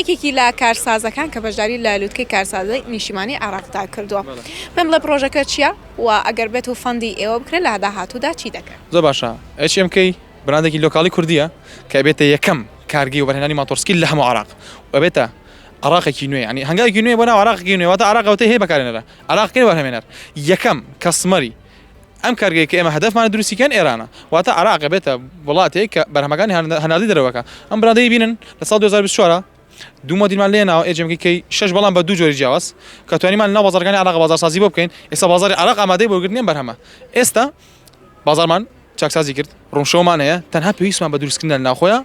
یەکێکی لە کارسازەکان کە بەشداری لە لوتکەی کارسازی نیشتیمانی عێراقدا کردووە پێم بڵێ پڕۆژەکە چییە و ئەگەر بێت و فەندی ئێوە بکرێت لە داهاتوودا چی دەکەن؟ زۆر باشە HMK براندێکی لۆکاڵی کوردییە کە ئەبێتە یەکەم کارگەی وەبەرهێنانی ماتۆڕسکیل لە هەموو عێراق و ئەبێتە عێراقێکی نوێ یانی هەنگاوێکی نوێ بۆ ناو عێراقێکی نوێ واتە عێراق ئەوتەی هەیە بەکارهێنەرە عێراقی وەبەرهەمێنەر یەکەم کەستمەری ئەم کارگەیەی کە ئێمە هەدەفمانە دروستی کەن ئێرانە واتە عێراقە بێتە وڵاتێک کە بەرهەمەکانی هەناردەی دەرەوە کە ئەم براندەی بینن لە ساڵ 2024 ە دوو مۆدیلمان لێ ناوە ئێجێمکی کەی شەش بەڵام بە دوو جۆری جیاواز کە توانیمان ناو بازارەکانی عێراق بازارسازی بۆ بکەین ئێستا بازاری عێراق ئامادەی بۆ گرتنی بەرهەمە ئێستا بازارمان چاکسازی کرد ڕوونشەوەمان هەیە تەنها پێویستمان بە دروستکردن لە ناوخۆیە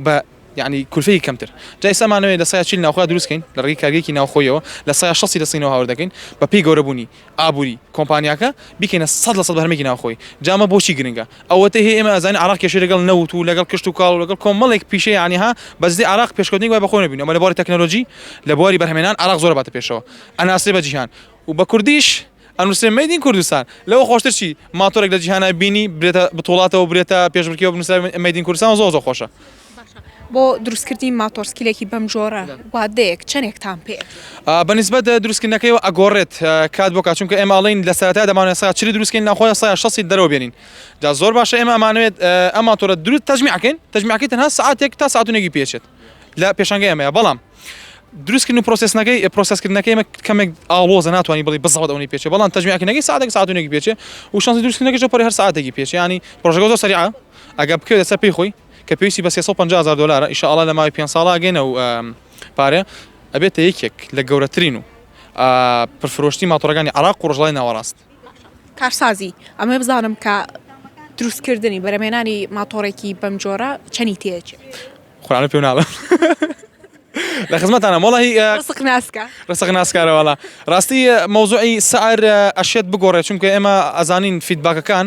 بە یعنی کولفەی کەمتر جای سامانەوەی لە سای چیل ناوخۆ دروستکەین لە ڕێی کارگێکی ناوخۆیەوە لە سای شەسی لە سینەوە هاوردەکەین بە پێی گەورەبوونی ئابوری کۆمپانیاکە بیکەینە سەد لە سەد بەرهەمێکی ناوخۆیی جا ئەمە بۆچی گرنگە ئەوەتەی هەیە ئێمە ئەزانین عێراق کێشەی لەگەڵ نەوت و لەگەڵ کشت و کاڵ و لەگەڵ کۆمەڵێک پیشەی یانی ها بەس دەی عێراق پێشکەوتنێک وای بەخۆی نەبینی ئەمە لە بواری تەکنەلۆجی لە بواری بەرهەمێنان عێراق زۆر باتە پێشەوە ئەناسرێ بە جیهان و بە کوردیش ئەنووسێ مەید ئین کوردستان لەوە خۆشتر چی ماتۆرێک لە جیهانا بینی برێتە بتوڵاتەوە برێتە پێشبڕکێوە بنووسرا مەید ئین کوردستان زۆر زۆر خۆشە. باشە بۆ دروستکردنی ماتۆڕ سکیلێکی بەم جۆرە وادەیەک چەندێکتان پێ ئەچێت؟ بە نیسبەت دروستکردنەکەیەوە ئەگۆڕێت کات بۆ کات چونکە ئێمە ئەڵێن لە سەرەتای دەمانەوێت سەعات چلی دروستکەین ناخۆیە سەعات شەستی دەرەوە بێنین جا زۆر باشە ئێمە ئەمانەوێت ئەم ماتۆرە دروست تەجمیعکەین تەجمیعەکەی تەنها سەعاتێک تا سەعات و نێگی پێ ئەچێت لە پێشەنگەی ئەمەیە بەڵام دروستکردن و پرۆسسنەکەی پرۆسسکردنەکەی ئێمە کەمێک ئاڵۆزە ناتوانانی بڵی بەزەوت ئەوەی پێچێ بەڵام تەجمیعکردنەکەی ساعتێک ساعت و نێگی پێچێ و شانسی دروستکردنەکەش پڕی هەر ساعتێکی پێچێ ینی پرۆژەکە زۆر سەریعە ئەگە بکەوێت سەر پێی خۆی کە پێویستی بە سێ سەد و پەنجا هەزار دۆلارە ئیشە ئاڵا لە ماوەی پێنج ساڵا ئەگەینە ئەو پارەیە ئەبێتە یەکێک لە گەورەترین و پرفرۆشتی ماتۆڕەکانی عراق و ڕژڵای ناوەڕاست کارسازی ئەمە بزانم کە دروستکردنی بەرەمێنانی ماتۆڕێکی بەم جۆرە چەنی تێچ خۆرانە پێ ناڵە لە خزمەتانە مۆڵی ڕسق ناسکارەوەڵا ڕاستی مەوزوعی سعر ئەشێت بگۆڕێ چونکە ئێمە ئەزانین فیدباکەکان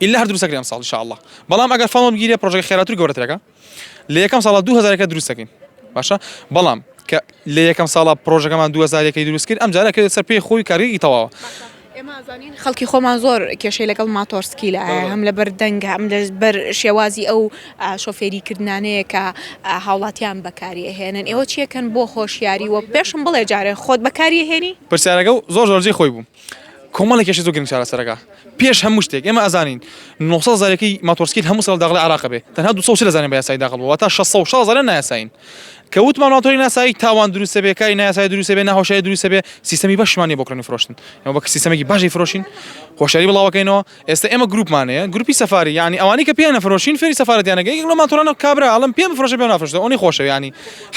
ئیللا هەر دروست ئەکرێ ئەمساڵ ان شاء اللە بەڵام ئەگەر فەڵ وەربگیرێ پڕۆژەکە خێراتر گەورەترەکە لە یەکەم ساڵە دوو هەزارەکە دروست دەکەین باشە بەڵام کە لە یەکەم ساڵە پرۆژەکەمان دو هەزارەکەی دروست کرد ئەم جارە کرد سەر پێی خۆی کارگەی تەواوە ئێمەزانین خەڵکی خۆمان زۆر کێشەی لەگەڵ ماتۆرسکی لە هەم لە بەر دەنگە ئەم لە بەر شێوازی ئەو شۆفێری کردانەیە کە هاوڵاتیان بەکاری هێنن ئێوە چیەکەن بۆ خۆشیاری وە پێشم بڵێ جارێ خۆت بەکاری هێنی پرسیارەکە زۆر زۆرجی خۆی بوو کۆمەڵێک کێشەی زۆر گرنگ چارەسەرەکا. پێش هەموو شتێک ئێمە ئەزانین نۆ سەد هەزار یەکەی ماتۆڕسکیل هەموو ساڵ داغڵی عێراقە بێ تەنها دوو سەد و چل هەزاریان بە یاسایی داغڵ بووە واتە شەش سەد و شەست هەزاریان نایاسایین کە وتمان ماتۆڕی نایاسایی تاوان دروستە بێ کاری نایاسایی دروستە بێ ناهۆشیاری دروستە بێ سیستەمی بەشمان نییە بۆ کڕین و فرۆشتن ئێمە بە سیستەمێکی باشی فرۆشین هۆشیاری بڵاوەکەینەوە ئێستا ئێمە گروپمان هەیە گروپی سەفاری یعنی ئەوانی کە پێیانە فرۆشین فێری سەفارەتیانەکە یەکێک لە ماتۆڕانە کابرا ئەڵم پێم فرۆشە پێ نافرۆشتە ئەونی خۆشەویانی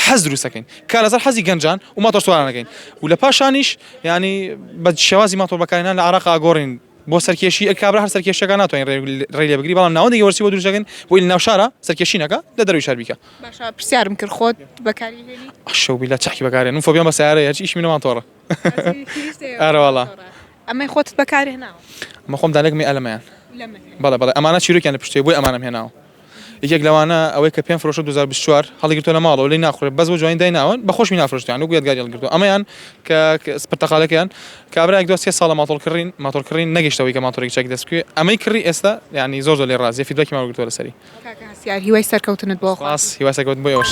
حەز دروستەکەین کار لەسەر حەزی گەنجان و ماتۆرسوارانەکەین و لە پاشانیش یانی بە شێوازی ماتۆڕ بەکارهێنان لە عێراق ئاگۆڕین بۆ سەرکێشی ئەک کابرا هەر سەرکێشەکە ناتوانین ڕێ لێ بگری بەڵام ناوەندێکی وەرسی بۆ دروست دەکەین بۆی لە ناو شارە سەرکێشینەکە لە دەروی شار بیکە باشە پرسیارم کرد خۆت بەکاری هێنی شەو بیلا چاکی بەکارێن و فۆبیان بە سیارە هەرچی ئیشی منەوان تۆڕە ئارەواڵا ئەمەی خۆت بەکاری هێناوە مەخۆم دالێکمی ئەلەمەیان لەمە بەڵێ بەڵێ ئەمانە چیرۆکیان لە پشتێ بۆی ئەمانەم هێناوە یەکێک لەوانە ئەوەی کە پێم فرۆشە دوو هەزار و بیست و چوار هەڵیگرتووە لە ماڵەوە لێی ناخورێ بەس بۆ جوانی دایناوە بە خۆشمی نافرۆشتوویان وەکو یادگاری هەڵگرتووە ئەمەیان کە پرتەقالەکەیان کابرایەک دوا سێ ساڵە ماتۆڕ کڕین ماتۆڕ کڕین نەگەیشتە ئەوەی کە ماتۆڕێکی چاکی دەست بکەوێ ئەمەی کڕی ئێستا یانی زۆر زۆر لێ ڕازیە فیدبەکیمان وەرگرتووە لەسەری کاکە هەستیار هیوای سەرکەوتنت بۆ خواست سپاس هیوای سەرکەوتن بۆ ئێوەش.